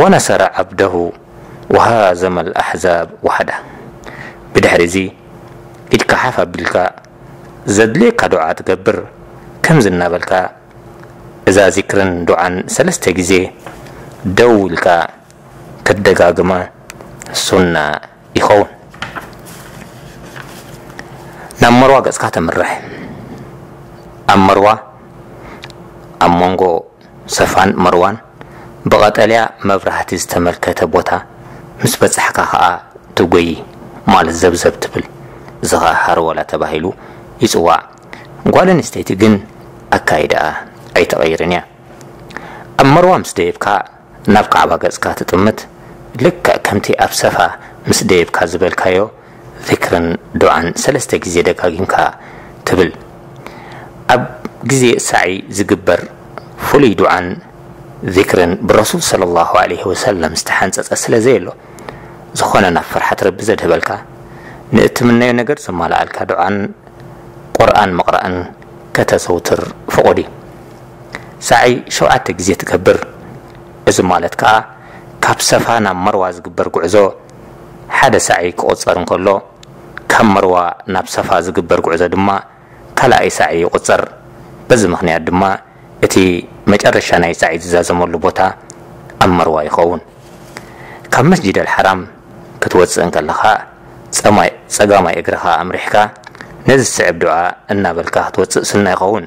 ወነሰረ ዐብደሁ ወሃዘመ ለአሕዛብ ወሐዳ። ብድሕሪዚ ኢድካ ሓፍ ኣቢልካ ዘድልየካ ዱዓ ትገብር፣ ከምዚ እናበልካ እዛ ዚክርን ዱዓን ሰለስተ ግዜ ደው ኢልካ ክትደጋግማ ሱና ይኸውን ናብ መርዋ ገጽካ ተምርሕ ኣብ መርዋ ኣብ መንጎ ሰፋን መርዋን ብቐጠልያ መብራህቲ ዝተመልከተ ቦታ ምስ በጻሕካ ከኣ ትጎዪ ማለት ዘብዘብ ትብል እዚ ከኣ ሃርወላ ተባሂሉ ይጽዋዕ ጓል ኣንስተይቲ ግን ኣካይዳኣ ኣይትቕይርን እያ ኣብ መርዋ ምስ ደየብካ ናብ ካዕባ ገጽካ ትጥምት፣ ልክዕ ከምቲ ኣብ ሰፋ ምስ ደየብካ ዝበልካዮ ዚክርን ዱዓን ሰለስተ ግዜ ደጋጊምካ ትብል። ኣብ ግዜ ሳዕይ ዝግበር ፍሉይ ዱዓን ዚክርን ብረሱል ሰለላሁ ዓለይሂ ወሰለም ዝተሓንጸጸ ስለ ዘየሎ፣ ዝኾነ ናብ ፍርሓት ረቢ ዘድህበልካ፣ ንእትምነዮ ነገር ዘማልኣልካ ዱዓን ቁርኣን ምቕራእን ከተዘውትር ፍቑድ እዩ። ሳዒ ሸውዓተ ግዜ ትገብር። እዚ ማለት ከኣ ካብ ሰፋ ናብ መርዋ ዝግበር ጉዕዞ ሓደ ሳዒ ክቑጸር እንከሎ፣ ካብ መርዋ ናብ ሰፋ ዝግበር ጉዕዞ ድማ ካልኣይ ሳዒ ይቑጸር። በዚ ምኽንያት ድማ እቲ መጨረሻ ናይ ሳዒ ዝዛዘመሉ ቦታ ኣብ መርዋ ይኸውን። ካብ መስጂድ ኣልሓራም ክትወጽእ እንከለኻ ጸማይ ጸጋማይ እግርኻ ኣምሪሕካ ነዚ ዝስዕብ ዱዓ እናበልካ ክትወጽእ ሱና ይኸውን።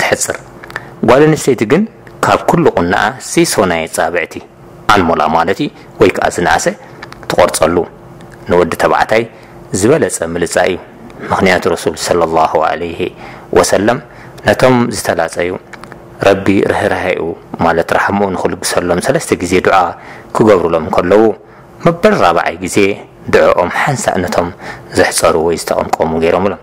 ተሕጽር ጓል ኣንስተይቲ ግን ካብ ኩሉ ቁናኣ ሲሶ ናይ ኣጻብዕቲ፣ ኣንሞላ ማለት እዩ፣ ወይ ከኣ ዝነኣሰ ትቆርጸሉ ንወዲ ተባዕታይ ዝበለጸ ምልጻይ እዩ ምኽንያቱ ረሱል ሰለሏሁ ዓለይሂ ወሰለም ነቶም ዝተላጸዩ ረቢ ርህራሄኡ ማለት ራሕምኡ ንኽልግሰሎም ሰለስተ ግዜ ዱዓ ክገብሩሎም ከለዉ መበል ራብዓይ ግዜ ዱዕኦም ሓንሳእ ነቶም ዘሕጸሩ ወይ ዝተቀምቀሙ ገይሮምሎም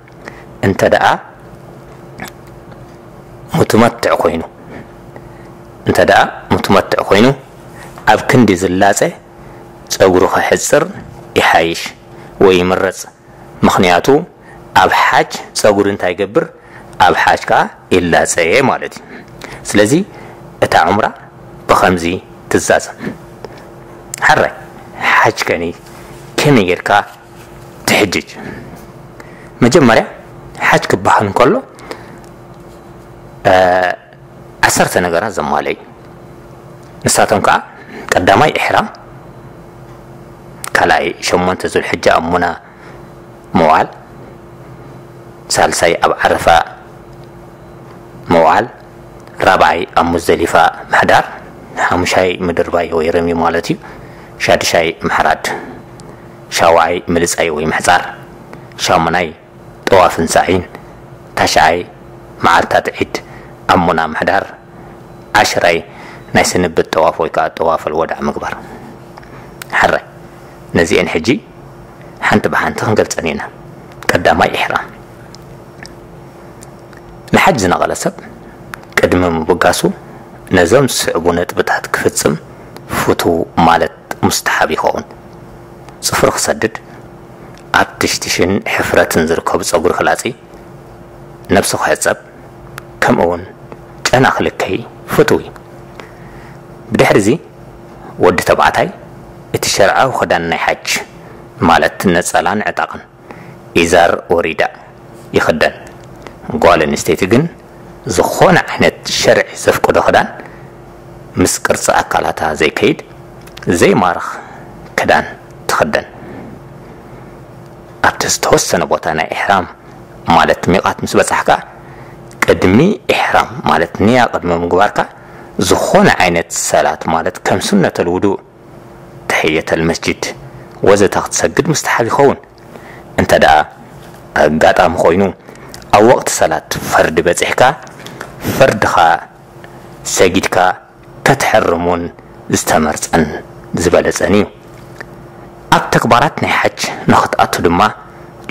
እንተደኣ ሙትመትዕ ኮይኑ እንተደኣ ሙትመትዕ ኮይኑ ኣብ ክንዲ ዝላጸ ጸጉሩ ከሕጽር ይሓይሽ ወይ ይምረጽ ምኽንያቱ ኣብ ሓጅ ጸጉሪ እንታይ ይገብር ኣብ ሓጅ ከኣ ይላጸ ማለት እዩ ስለዚ እታ ዑምራ ብኸምዚ ትዛዘም ሓራይ ሓጅ ከኒ ከመይ ጌርካ ትሕጅጅ መጀመርያ ሓጅ ክበሃል እንከሎ ዓሰርተ ነገራት ዘማለዩ ንሳቶም ከዓ ቀዳማይ ኢሕራም ካልኣይ ሸሞንተ ዙልሕጃ ኣብ ሙና ምውዓል ሳልሳይ ኣብ ዓረፋ ምውዓል ራብዓይ ኣብ ሙዘሊፋ ምሕዳር ሓሙሻይ ምድርባይ ወይ ረሚ ማለት እዩ ሻድሻይ ምሕራድ ሻውዓይ ምልጻይ ወይ ምሕጻር፣ ሻሙናይ ጠዋፍን ሳዕይን፣ ታሽዓይ መዓልታት ዒድ ኣብ ሙና ምሕዳር፣ ዓሽራይ ናይ ስንብት ጠዋፍ ወይ ከኣ ጠዋፈል ወዳዕ ምግባር። ሕራይ ነዚኤን ሕጂ ሓንቲ ብሓንቲ ክንገልጸን ኢና። ቀዳማይ ኢሕራም። ንሓጅ ዝነቐለ ሰብ ቅድሚ ምብጋሱ ነዞም ዝስዕቡ ነጥብታት ክፍጽም ፍቱው ማለት ሙስተሓብ ይኸውን። ጽፍሩ ክሰድድ፣ ኣብ ትሽትሽን ሕፍረትን ዝርከቡ ጸጉሪ ክላጺ፣ ነብሱ ክሕጸብ፣ ከምኡ'ውን ጨና ክልከይ ፍቱው እዩ። ብድሕሪ'ዚ ወዲ ተባዕታይ እቲ ሸርዓዊ ክዳን ናይ ሓጅ፣ ማለት ነጸላን ዕጣቕን፣ ኢዛር ወሪዳ ይኽደን ጓል ኣንስተይቲ ግን ዝኾነ ዓይነት ሸርዒ ዘፍቅዶ ክዳን ምስ ቅርጺ ኣካላታ ዘይከይድ ዘይማርኽ ክዳን ትኽደን ኣብቲ ዝተወሰነ ቦታ ናይ ኢሕራም ማለት ሚቓት ምስ በጻሕካ ቅድሚ ኢሕራም ማለት ንያ ቅድሚ ምግባርካ ዝኾነ ዓይነት ሰላት ማለት ከም ሱነተል ውዱእ ተሕየተል መስጂድ ወዘተ ክትሰግድ ሙስተሓብ ይኸውን። እንተድኣ ኣጋጣሚ ኮይኑ ኣብ ወቕቲ ሰላት ፈርድ በጺሕካ ፈርድኻ ሰጊድካ ከተሕርም ውን ዝተመርጸን ዝበለጸን እዩ። ኣብ ተግባራት ናይ ሓጅ ንኽትኣቱ ድማ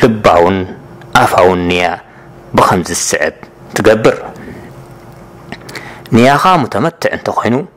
ልባውን ኣፋውን ንያ ብኸምዚ ዝስዕብ ትገብር። ንያኻ ሙተመትዕ እንተኾይኑ፣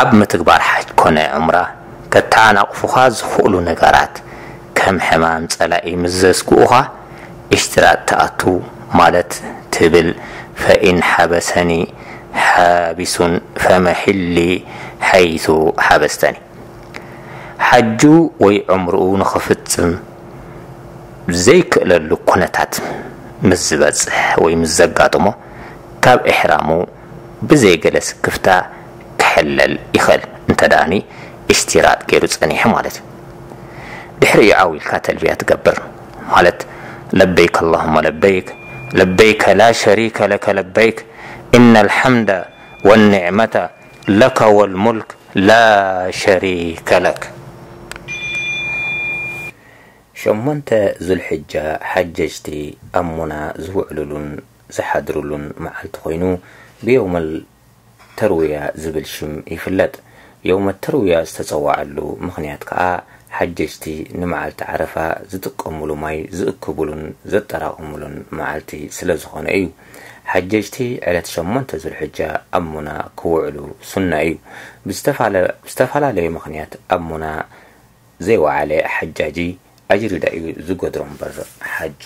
ኣብ ምትግባር ሓጅ ኮነ ዑምራ ከተዓናቕፉኻ ዝኽእሉ ነገራት ከም ሕማም ፀላኢ ምስ ዘስግኡኻ ኢሽትራጥ ትኣቱ ማለት ትብል ፈኢን ሓበሰኒ ሓቢሱን ፈመሒሊ ሓይሱ ሓበስተኒ ሓጁ ወይ ዑምርኡ ንኽፍፅም ዘይክእለሉ ኩነታት ምስ ዝበፅሕ ወይ ምስ ዘጋጥሞ ካብ ኢሕራሙ ብዘይ ገለ ስክፍታ ክሕለል ይኸእል እንተደኣ ን ኢሽቲራጥ ገይሩ ጸኒሑ ማለት እዩ። ድሕሪኡ ዓው ኢልካ ተልብያ ትገብር ማለት ለበይክ ኣላሁመ ለበይክ ለበይከ ላ ሸሪከ ለከ ለበይክ ኢነል ሐምደ ወኒዕመተ ለከ ወልሙልክ ላ ሸሪከ ለክ። ሸሞንተ ዙልሕጃ ሓጀጅቲ ኣብ ሙና ዝውዕሉሉን ዝሓድርሉን መዓልቲ ኮይኑ ብዮውመል ተርዊያ ዝብል ሽም ይፍለጥ። ዮውመ ተርዊያ ዝተፀወዐሉ ምኽንያት ከዓ ሓጀጅቲ ንመዓልቲ ዓረፋ ዝጥቀሙሉ ማይ ዝእክቡሉን ዘጠራቕሙሉን መዓልቲ ስለዝኾነ እዩ። ሓጀጅቲ ዕለት ሸሞንተ ዙልሕጃ ኣብ ሙና ክውዕሉ ሱና እዩ። ብዝተፈላለየ ምኽንያት ኣብ ሙና ዘይወዓለ ሓጃጂ ኣጅሪዳ እዩ ዝገድሮ እምበር ሓጁ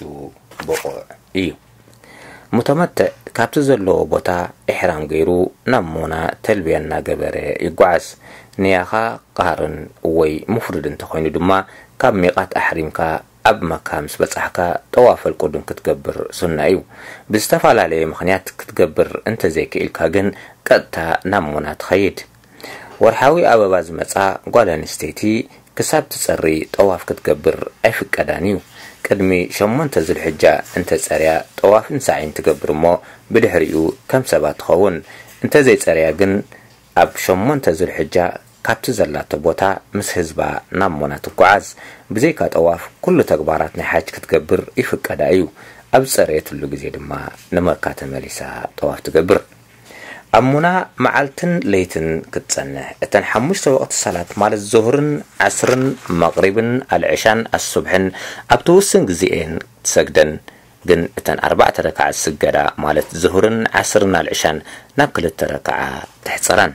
ብቑዕ እዩ። ሙተመትዕ ካብቲ ዘለዎ ቦታ ኢሕራም ገይሩ ናብ ሙና ተልብያ እናገበረ ይጓዓዝ። ንያኻ ቓርን ወይ ሙፍሪድ እንተኾይኑ ድማ ካብ ሚቓት ኣሕሪምካ ኣብ መካ ምስ በጻሕካ ጠዋፈል ቁዱም ክትገብር ሱና እዩ። ብዝተፈላለየ ምኽንያት ክትገብር እንተዘይክኢልካ ግን ቀጥታ ናብ ሙና ትኸይድ። ወርሓዊ ኣበባ ዝመጽኣ ጓል ኣንስተይቲ ክሳብ ትጸሪ ጠዋፍ ክትገብር ኣይፍቀዳን እዩ። ቅድሚ ሸሞንተ ዙልሕጃ እንተ ጸርያ ጠዋፍን ሳዕይን ትገብር እሞ ብድሕሪኡ ከም ሰባት ትኸውን። እንተ ዘይጸርያ ግን ኣብ ሸሞንተ ዙልሕጃ ካብቲ ዘላቶ ቦታ ምስ ህዝባ ናብ ሙና ትጉዓዝ። ብዘይካ ጠዋፍ ኩሉ ተግባራት ናይ ሓጅ ክትገብር ይፍቀዳ እዩ። ኣብ ዝጸረየትሉ ግዜ ድማ ንመካ ተመሊሳ ጠዋፍ ትገብር። ኣብ ሙና መዓልትን ለይትን ክትጸንሕ፣ እተን ሓሙሽተ ወቕቲ ሰላት ማለት ዙህርን ዓስርን መቕሪብን ኣልዕሻን ኣሱብሕን ኣብቲ ውሱን ግዜ እየን ትሰግደን፣ ግን እተን ኣርባዕተ ረክዓ ዝስገዳ ማለት ዙህርን ዓስርን ኣልዕሻን ናብ ክልተ ረክዓ ተሕጽረን።